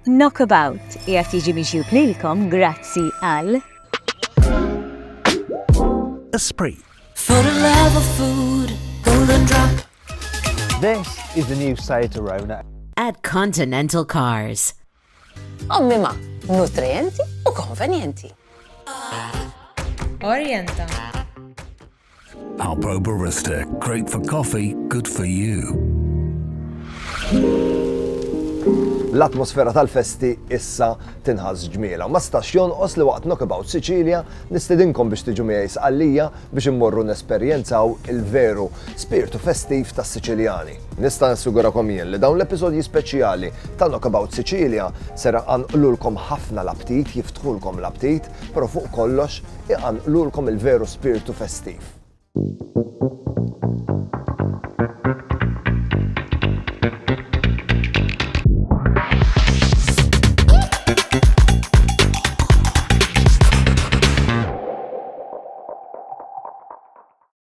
Knockabout qiegħed jiġi miġjub lilkom grazzi għal. Esprit. For the love of food, golden drop. This is the new Seat Arona. At Continental Cars. Ommima, nutrienti u konvenjenti. Orienta. Alpro Barista, great for coffee, good for you. L-atmosfera tal-festi issa tinħas ġmiela. Ma stax jonqos li waqt Knockabout Sicilia nistedinkom biex tiġu miegħi sqallija biex immorru nesperjenzaw il-veru spirtu festiv tas-Siċiljani. Nista' nassigurakom jien li dawn l-episodji speċjali ta' Knockabout Sicilia sera anqlulkom ħafna l-aptit, jiftħulkom l-aptit, però fuq kollox iqanqlulkom il-veru spirtu festiv.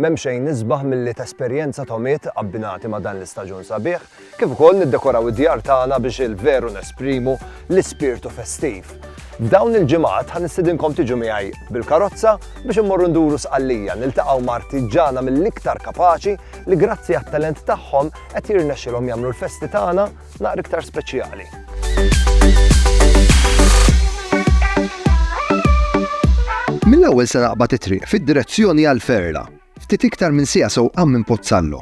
M'hemm xejn isbaħ milli tesperjenza togħmiet abbinati ma' dan l-istaġun sabiħ, kif ukoll niddekoraw id-djar tagħna biex il-veru nesprimu l-ispirtu festiv. F'dawn il-ġimgħat ħa nistidinkom tiġu miegħi bil-karozza biex immorru nduru Sqallija, niltaqgħu ma' artiġġana mill-iktar kapaċi li grazzi għat-talent tagħhom qed jirnexxilhom jagħmlu l-festi tagħna naqra iktar speċjali. Mill-ewwel se naqbad it-triq fid-direzzjoni għal Ferla, ftit iktar minn sija sewqan minn Pozzallo.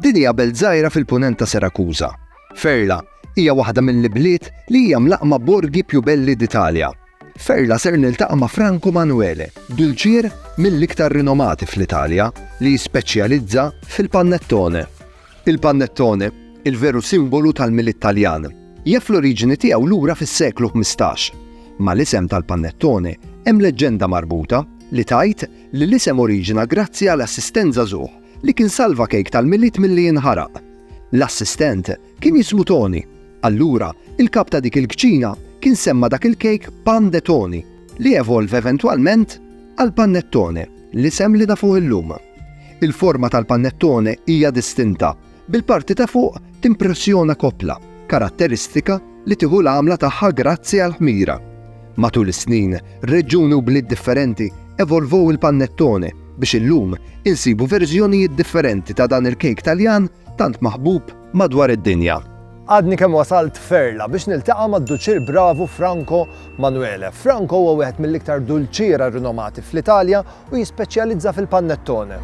Din hija belt żgħira fil-punent ta' Serakuża. Ferla hija waħda mill-ibliet li hija mlaqma borgi più belli d'Italja. Ferla ser niltaqa' ma' Franco Manuele, dulċier mill-iktar rinomati fl-Italja li jispeċjalizza fil-pannettone. Il-pannettone, il-veru simbolu tal-Milied Taljan, jaf l-oriġini tiegħu lura fis-seklu ħmistax. Mal-isem tal-pannettone hemm leġġenda marbuta li tgħid li l-isem oriġina grazzi għal assistent żagħżugħ li kien salva kejk tal-Milied milli jinħaraq. L-assistent kien jismu Toni. Allura, il-kap ta' dik il-kċina kien semma dak il-kejk pandetoni li evolve eventwalment għal pannettone, l-isem li nafuh illum. Il-forma tal-panettone hija distinta, bil-parti ta' fuq timpressjona koppla, karatteristika li tieħu l-għamla tagħha grazzi għall-ħmira. Matul is-snin, reġjuni u bliet differenti evolvow il-panettone biex illum insibu verżjonijiet differenti ta' dan il-kejk Taljan tant maħbub madwar id-dinja. Għadni kemm wasalt Ferla biex niltaqa' mad-Duċier Bravu Franco Manuele. Franco huwa wieħed mill-iktar dulċiera rinomati fl-Italja u jispeċjalizza fil-pannettone.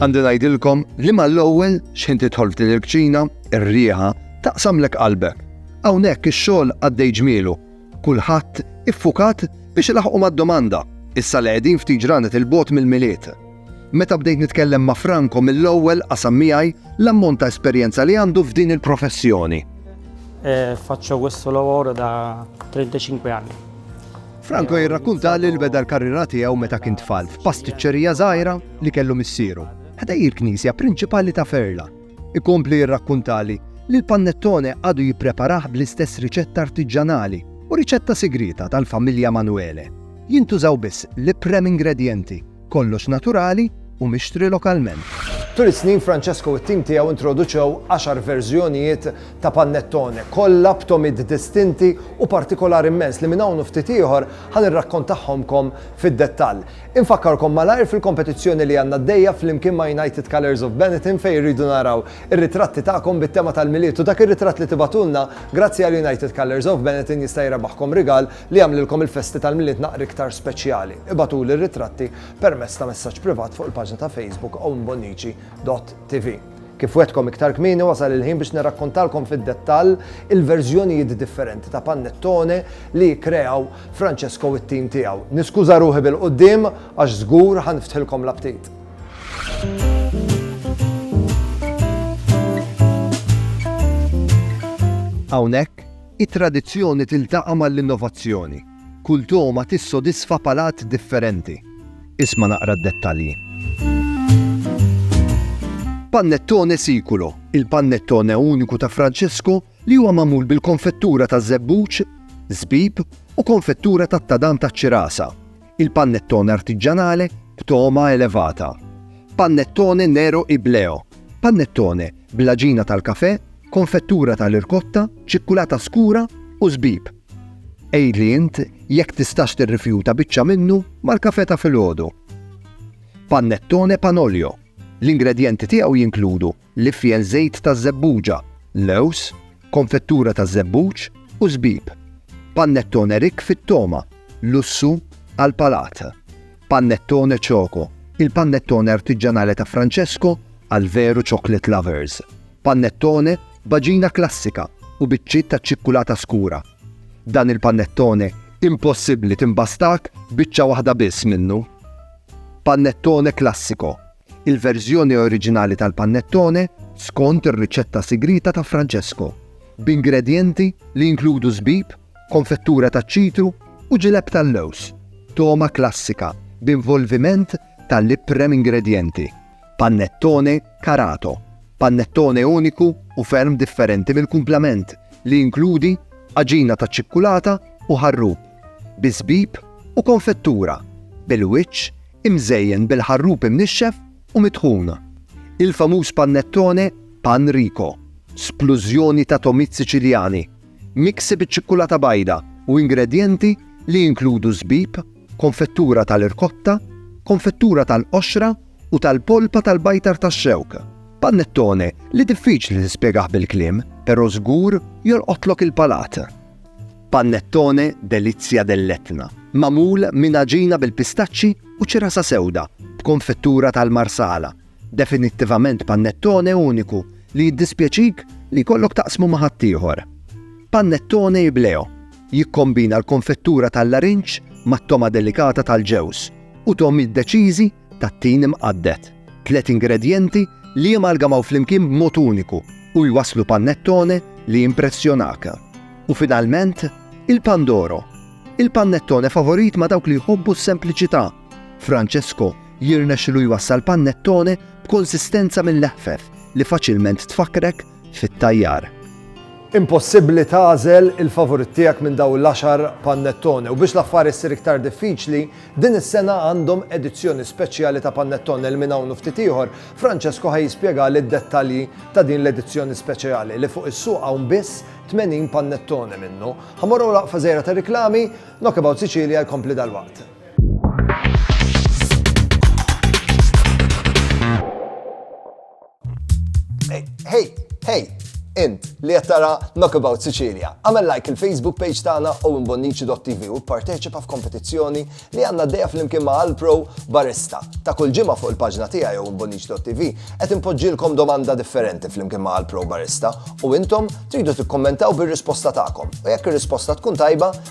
Għandi ngħidilkom li mal-ewwel xħin tidħol f'din il-kċina, ir-riħa taqsamlek qalbek. Hawnhekk ix-xogħol għaddej ġmielu. Kulħadd iffukat biex ilaħħqu mad-domanda, issa li qegħdin ftit ġranet 'il bogħod mill-Milied. Meta bdejt nitkellem ma' Franco mill-ewwel qasam miegħi l-ammont ta' esperjenza li għandu f'din il-professjoni. Faccio questo lavoro da 35 anni. Franco jirrakkuntali li beda l-karriera tiegħu meta kien tfal f'pastiċċerija żgħira li kellu missieru, ħdejn il-knisja prinċipali ta' Ferla. Ikompli jirrakkuntali li l-pannettone għadu jippreparah bl-istess riċetta artiġġanali u riċetta sigrieta tal-familja Manuele. Jintużaw biss l-iprem ingredjenti, kollox naturali u mixtri lokalment. Tul is-snin Francesco u t-tim tiegħu introduċew għaxar verżjonijiet ta' pannettone, kollha b'tomid distinti u partikolari mmens li minn hawn u ftit ieħor ħa nirrakkontahomkom fid-dettall. Infakkarkom malajr fil-kompetizzjoni li għandna għaddejja flimkien ma' United Colours of Benetton fejn irridu naraw ir-ritratti tagħkom bit-tema tal-Milied u dak ir-ritratt li tibagħtulna grazzi għal United Colours of Benetton jista' jrebaħkom rigal li jagħmlilkom il-festi tal-Milied naqra iktar speċjali. Ibagħtuli r-ritratti permezz ta' messaġġ privat fuq il-paġna ta' Facebook ownbonnici.tv. Kif wegħdtkom iktar kmieni wasal il-ħin biex nirrakkontalkom fid-dettall il-verżjonijiet differenti ta' pannettone li kkreaw Francesco u t-tim tiegħu. Niskuża ruħi bil-quddiem għax żgur ħa niftħilkom l-aptit. Hawnhekk, it-tradizzjoni tiltaqa' mal-innovazzjoni. Kull togħma tissodisfa palat differenti. Isma' naqra d-dettalji. Pannettone Siculo, il-pannettone uniku ta' Francesco li huwa magħmul bil-konfettura taż-żebbuġ, żbib u konfettura tat-tadam taċ-ċirasa. Il-pannettone artiġġanale b'togħma elevata. Pannettone Nero Ibleo, pannettone bl-għaġina tal-kafè, konfettura tal-irkotta, ċikkulata skura u żbib. Għidli int jekk tistax tirrifjuta biċċa minnu mal-kafè ta' filgħodu. Pannettone Panolio, L-ingredjenti tiegħu jinkludu l-ifjen żejt taż-żebbuġa, lewż, konfettura taż-żebbuġ u żbib. Pannettone rikk fit-togħma, lussu għall-palat. Pannettone Choco, il-pannettone artiġġanali ta' Francesco għall-veru chocolate lovers. Pannettone b'għaġina klassika u biċċiet ta' ċikkulata skura. Dan il-pannettone impossibbli timbastak biċċa waħda biss minnu. Pannettone Classico, il-verżjoni oriġinali tal-pannettone skont ir-riċetta sigrieta ta' Francesco, b'ingredjenti li jinkludu żbib, konfettura taċ-ċitru u ġileb tal-lewż, togħma klassika b'involviment ta' l-iprem ingredjenti. Pannettone Carato, pannettone uniku u ferm differenti mill-kumplament li jinkludi għaġina ta' ċikkulata u ħarrub bi żbib u konfettura bil-wiċċ imżejjen bil-ħarrub imnixxef u mitħun. Il-famuż pannettone Pan Rico, splużjoni ta' togħmiet Siċiljani Miksi biċ-ċikkulata bajda u ingredjenti li jinkludu żbib, konfettura tal-irkotta, konfettura tal-qoxra u tal-polpa tal-bajtar tax-xewk. Panettone li diffiċli tispjegah bil-kliem, però żgur jolqotlok il-palat. Panettone Delizia dell'Etna, magħmul minn għaġina bil-pistaċċi u ċirasa sewda b'konfettura tal-Marsala, Definittivament pannettone uniku li jiddispjaċik li jkollok taqsmu ma' ħaddieħor. Pannettone Ibleo jikkombina l-konfettura tal-larinġ mat-togħma delikata tal-ġewż u togħmiet deċiżi tat-tin imqadded, tliet ingredjenti li jamalgamaw flimkien b'mod uniku u jwasslu pannettone li jimpressjonak. U finalment, il-Pandoro, il-pannettone favorit ma' dawk li jħobbu s-sempliċità. Francesco jirnexxilu jwassal pannettone b'konsistenza mil-leħfef li faċilment tfakkrek fit-tajjar. Impossibbli tagħżel il-favorit tiegħek minn dawn l-għaxar pannettone u biex l-affari ssir iktar diffiċli, din is-sena għandhom edizzjoni speċjali ta' pannettone li minn hawn u ftit ieħor Francesco ħa jispjegali d-dettalji ta' din l-edizzjoni speċejali li fuq is-suq hawn biss 80 pannettone minnu. Ħa morru waqfa żgħira ta' riklami, Knockabout Sicilia jkompli dalwaqt. Hey, hey, int li qed tara Knockabout Sicilia. Għamel like il-Facebook page tagħna u mbonnici.tv u parteċipa f'kompetizzjoni li għandna dejja flimkien ma' Alpro Barista. Ta' kull ġimgħa fuq il-paġna tiegħi jew mbonnici.tv qed inpoġġilkom domanda differenti flimkien ma' Alpro Barista u intom tridu tikkommentaw bir-risposta tagħkom. U jekk ir-risposta tkun tajba,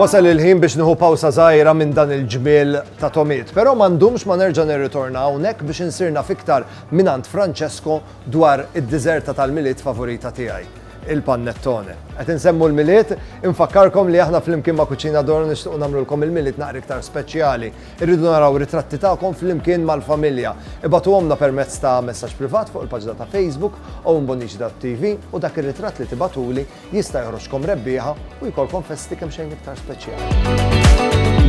Wasal il-ħin biex nieħu pawsa żgħira minn dan il-ġmiel ta' tomiet, però m'għandhomx ma nerġa' nirritorna hawnhekk biex insirna fiktar mingħand Francesco dwar id-diżerta tal-Milied favorita tiegħi, il-pannettone. Qed insemmu l-Milied, infakkarkom li aħna flimkien ma' Cucina Doro nixtiequ nagħmlulkom il-Milied naqra iktar speċjali. Irridu naraw ritratti tagħkom flimkien mal-familja. Ibagħtuhomlna permezz ta' messaġġ privat fuq il-paġna ta' Facebook owenbonnici.tv u dak ir-ritratt li tibagħtuli jista' joħroġkom rebbieħa u jkollkom festi kemmxejn iktar speċjali.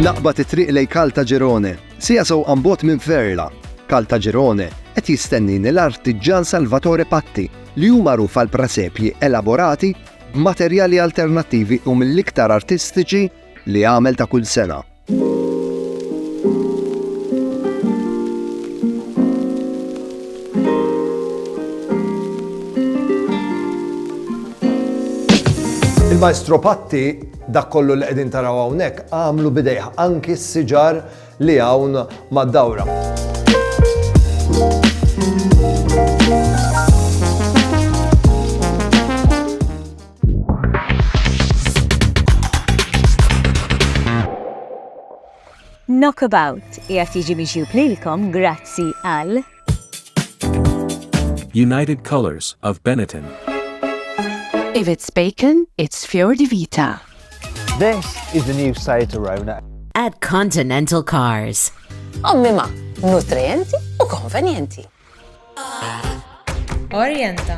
Naqbad it-triq lejn Caltagirone, siegħa sewqan 'l bogħod minn Ferla. Caltagirone qed jistennini l-artiġġan Salvatore Patti li hu magħruf għall-prasepji elaborati b'materjali alternattivi u mill-iktar artistiċi li għamel ta' kull sena. Il-Maestro Patti, dak kollu li qegħdin taraw hawnhekk, għamlu b'idejh, anki s-siġar li hawn mad-dawra. Knockabout qiegħed jiġi mixjub lilkom grazzi għal United Colors of Benetton. If it's bacon, it's Fior di Vita. This is the new Seat Arona. At Continental Cars. Ommima, nutrienti u konvenienti. Orienta.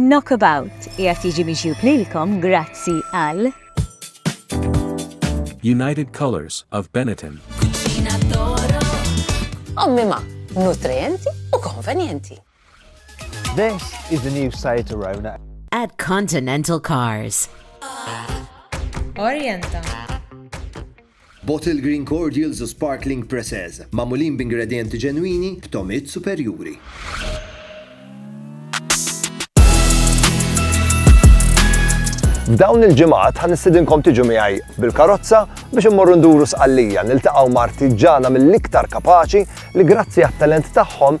Knockabout qiegħed jiġi miġjub lilkom grazzi għal. United Colours of Benetton. Cucina d'Oro. Ommima, nutrienti u konvenjenti. This is the new Seat Arona. At Continental Cars. Orienta. Bottled Green Cordials u Sparkling Preces, magħmulin b'ingredjenti ġenwini, b'togħmiet superjuri. F'dawn il-ġimgħat ħa nistidinkom tiġu miegħi bil-karozza biex immorru nduru sqallija niltaqgħu ma' artiġana mill-iktar kapaċi li grazzi għat-talent tagħhom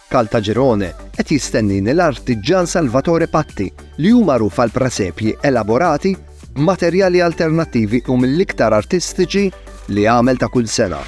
Caltagirone qed jistennini l-artiġġan Salvatore Patti li hu magħruf għal presepji elaborati b'materjali alternattivi u mill-iktar artistiċi li jagħmel ta' kull sena.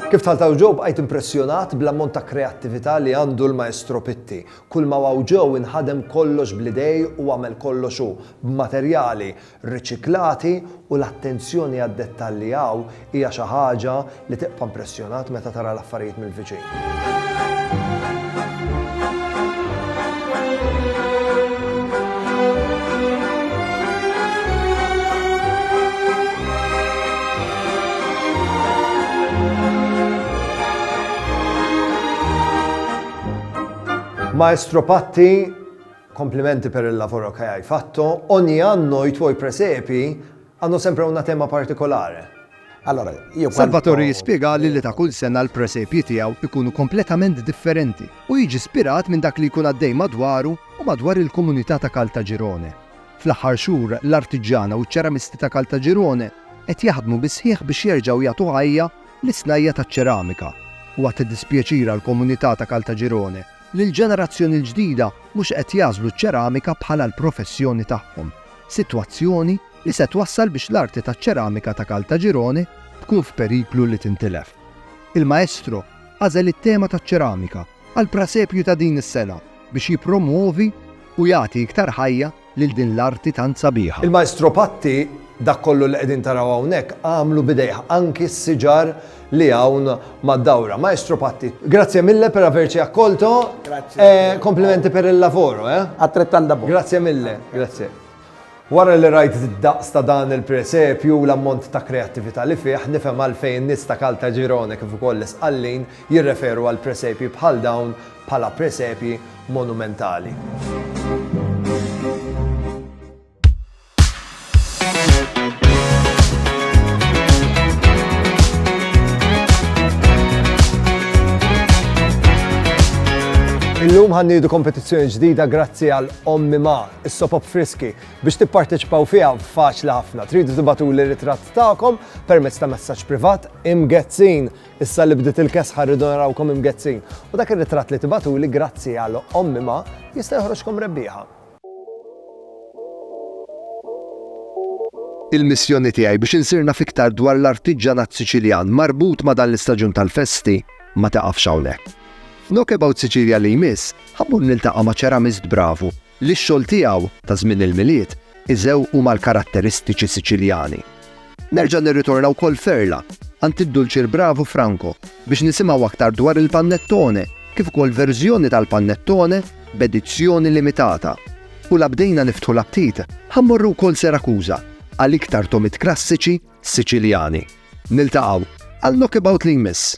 Kif taltaw ġew bqajt impressjonat bl-ammont ta' kreattività li għandu l-maestro Pitti. Kull ma waw ġew inħadem kollox bl-idej u għamel kollox hu, b'materjali, riċiklati u l-attenzjoni għad-dettalji hawn hija xi ħaġa li tibqa' impressjonat meta tara l-affarijiet mill-viċin. Maestro Patti, Complimenti per il lavoro che hai fatto, ogni anno i tuoi presepi hanno sempre una tema particolare. Salvatore jispjegali li ta' kull sena l-presepji tiegħu jkunu kompletament differenti u jiġi spirat minn dak li jkun għaddej madwaru u madwar il-komunità ta' Caltagirone. Fl-aħħar xhur l-artiġġana u ċ-ċeramisti ta' Caltagirone qed jaħdmu bis-sħiħ biex jerġgħu jagħtu ħajja lis-snajja' taċ-ċeramika. Huwa ta' dispjaċir għall-komunità ta' Caltagirone li l-ġenerazzjoni l-ġdida mhux qed jagħżlu ċ-ċeramika bħala l-professjoni tagħhom, sitwazzjoni li se twassal biex l-arti taċ-ċeramika ta' Caltagirone tkun f'periklu li tintilef. Il-Maestro għażel it-tema taċ-ċeramika għall-prasepju ta' din is-sena biex jippromwovi u jagħti iktar ħajja lil din l-arti tant sabiħa. Il-Maestro Patti dak kollu li qegħdin taraw hawnhekk għamlu b'idejh, anki s-siġar li hawn mad-dawra. Maestro Patti, grazie mille per averci accolto e complimenti per il lavoro, eh? Attrettanda bo. Grazie mille, grazie. Wara li rajt id-daqs ta' dan il-presepju u l-ammont ta' kreattività li fih, nifhem għalfejn in-nies ta' Caltagirone kif ukoll l-Isqallin jirreferu għal presepji bħal dawn bħala presepji monumentali. Illum ħa nniedu kompetizzjoni ġdida grazzi għal Ommi Ma, is-sopop friski. Biex tipparteċipaw fiha faċli ħafna. Tridu tibatuli ritratt tagħkom permezz ta' messaġġ privat imgezzin Issa li bdiet il-kesħa rridu narawkom imgezzin u dak ir-ritratt li tibagħtuli grazzi għal Ommi Ma jista' joħroġkom rebbieħa. Il-missjoni tiegħi biex insir naf iktar dwar l-artiġġanat Siċiljan marbut ma' dan l-istaġun tal-festi ma tiqafx hawnhekk. F'Knockabout Sicilia li jmiss, ħa mmur niltaqa' ma' ċeramist bravu li x-xogħol tiegħu ta' żmien il-Milied iżew huma l-karatteristiċi Siċiljani. Nerġa' nirritorna wkoll Ferla, għand id-Dulċir Bravu Franco biex nisimgħu aktar dwar il-pannettone kif ukoll verżjoni tal-pannettone b'edizzjoni limitata. U la bdejna niftħu l-aptit, ħa mmorru wkoll Serakuża għal iktar tomit krassiċi Siċiljani. Niltaqgħu għal Knockabout li jmiss!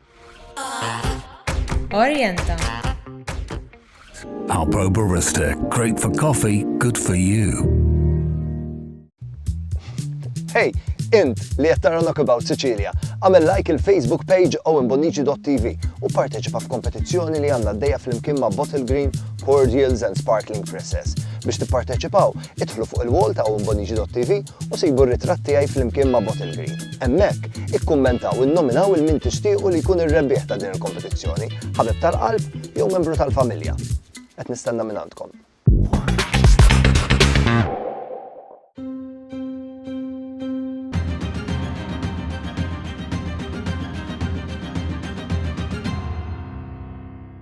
Orienta. Alpro Barista, great for coffee, good for you. Hey, int li qed tara Knockabout Sicilia, għamel like il-Facebook page owenbonici.tv u parteċipa f'kompetizzjoni li għandna d-dejja fl-imkien ma' Bottle Green, Cordials and Sparkling Presses. Biex tipparteċipaw, Idħlu fuq il-wall ta' owenbonigi.tv u sibu r-ritratt tiegħi flimkien ma' Bottle Green. Hemmhekk, ikkummentaw u nnominaw 'il min tixtiequ li jkun ir-rebbieħ ta' din il-kompetizzjoni, ħabib tal-qalb jew membru tal-familja. Qed nistenna mingħandkom.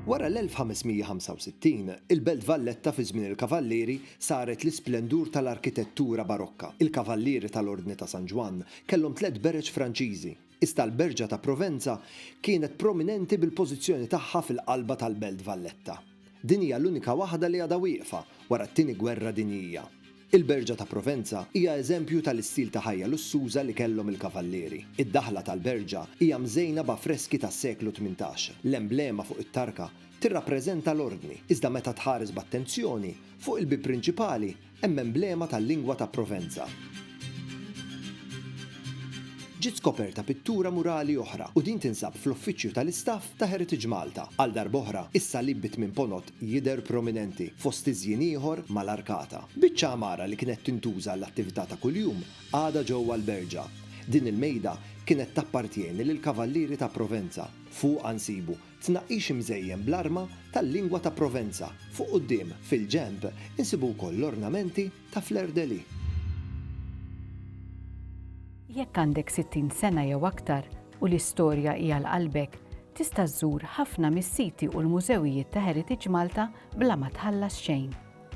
Wara l-1565, il-Belt Valletta fi żmien il-Kavallieri saret l-isplendur tal-arkitettura Barokka. Il-Kavallieri tal-Ordni ta' San Ġwann kellhom tliet bereġ Franċiżi, iżda l-berġa ta' Provenza kienet prominenti bil-pożizzjoni tagħha fil-qalba tal-Belt Valletta. Din hija l-unika waħda li għadha wieqfa wara t-Tieni Gwerra Dinjija. Il-berġa ta' Provenza hija eżempju tal-istil ta' ħajja lussuża li kellhom il-Kavallieri. Id-daħla tal-berġa hija mżejna b'affreski tas-seklu tmintax. L-emblema fuq it-tarka tirrappreżenta l-ordni, iżda meta tħares b'attenzjoni, fuq il-bieb prinċipali hemm emblema tal-lingwa ta' Provenza. Ġiet skoperta pittura murali oħra u din tinsab fl-uffiċċju tal-istaff ta' Heritage Malta. Għal darb'oħra, is-salib bi tmien ponot jidher prominenti fost tiżjin ieħor mal-arkata. Biċċa għamara li kienet tintuża għall-attività ta' kuljum għadha ġewwa l-Berġa. Din il-mejda kienet tappartjeni lill-Kavallieri ta' Provenza. Fuqha nsibu Tnaqqix imżejjen bl-arma tal-lingwa ta' Provenza, fuq quddiem, fil-ġenb, insibu wkoll l-ornamenti ta' fleur-de-lis. Jekk għandek 60 sena jew aktar u l-istorja hi għal qalbek, tista' żżur ħafna mis-siti u l-mużewijiet ta' Heritage Malta bla ma tħallas xejn.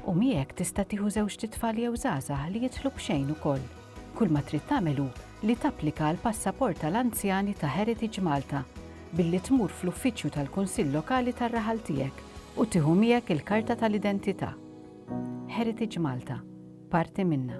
U miegħek tista' tieħu żewġt itfal jew żgħażagħ li jidħlu b'xejn ukoll. Kull ma trid tagħmel hu li tapplika għal passaport tal-anzjani ta' Heritage Malta billi tmur fl-uffiċċju tal-Kunsill Lokali tar-raħal tiegħek u tieħu miegħek il-karta tal-identità. Heritage Malta, parti minna.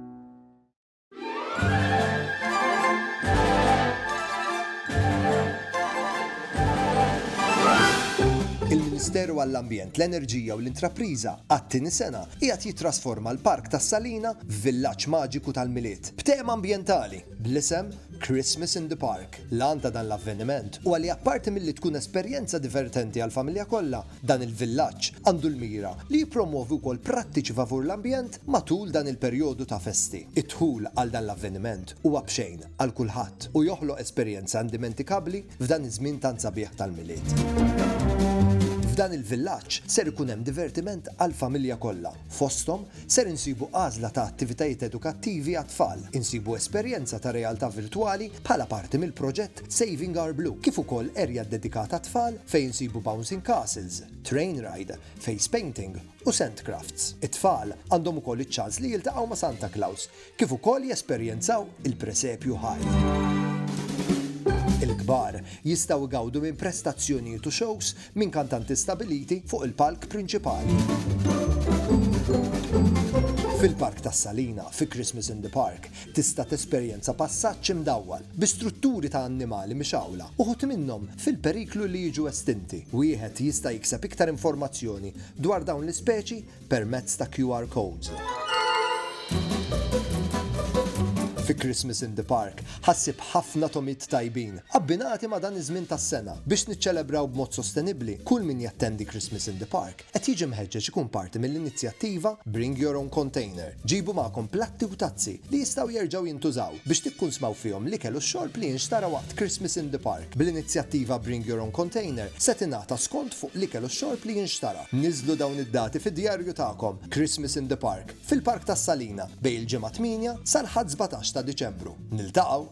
il-Ministeru għall-Ambjent, l-Enerġija u l-Intrapriża għat-tieni sena qiegħed jitrasforma l-Park tas-Salina f'villaġġ maġiku tal-Milied b'tema ambjentali bl-isem Christmas in the Park. L-għan ta' dan l-avveniment huwa li apparti milli tkun esperjenza divertenti għall-familja kollha, Dan il-villaġġ għandu l-mira li jippromwovi wkoll prattiċi favur l-ambjent matul dan il-perjodu ta' festi. Id-dħul għal dan l-avveniment huwa b'xejn għal kulħadd u joħloq esperjenza indimentikabbli f'dan iż-żmien tant sabiħ tal-Milied. F'dan il-villaġġ ser ikun hemm divertiment għall-familja kollha. Fosthom, ser insibu għażla ta' attivitajiet edukattivi għat-tfal, insibu esperjenza ta' realtà virtwali bħala parti mill-proġett Saving Our Blue, kif ukoll erja ddedikata għat-tfal fejn insibu bouncing castles, train ride, face painting u sand crafts. It-tfal għandhom ukoll iċ-ċans li jiltaqgħu ma' Santa Claus, kif ukoll jesperjenzaw il-presepju ħaj. Il-kbar jistgħu jgawdu minn prestazzjonijiet u shows minn kantanti stabbiliti fuq il-palk prinċipali. Fil-Park tas-Salina, fi Christmas in the Park, tista' tesperjenza passaġġ imdawwal, bi strutturi ta' annimali mixgħula, uħud minnhom fil-periklu li jiġu estinti. Wieħed jista' jikseb iktar informazzjoni dwar dawn l-ispeċi permezz ta' QR codes. Fi Christmas in the Park ħa ssib ħafna tomid tajbin, abbinati ma' dan iż-żmien tas-sena. Biex niċċelebraw b'mod sostenibbli, kull min jattendi Christmas in the Park Qed jiġi mħeġġeġ ikun parti mill-inizjattiva Bring Your Own Container, Ġibu Magħkom Platti u Tazzi li jistgħu jerġgħu jintużaw, biex tikkunsmaw fihom l-ikel u x-xorb li jinxtara waqt Christmas in the Park. Bl-inizjattiva Bring Your Own Container se tingħata skont fuq l-ikel u x-xorb li jinxtara. Niżżlu dawn id-dati fid-djarju tagħkom, Christmas in the Park, fil-Park tas-Salina, bejn il-Ġimgħa 8 sal-Ħadd 17 ta' Diċembru. Niltaqgħu!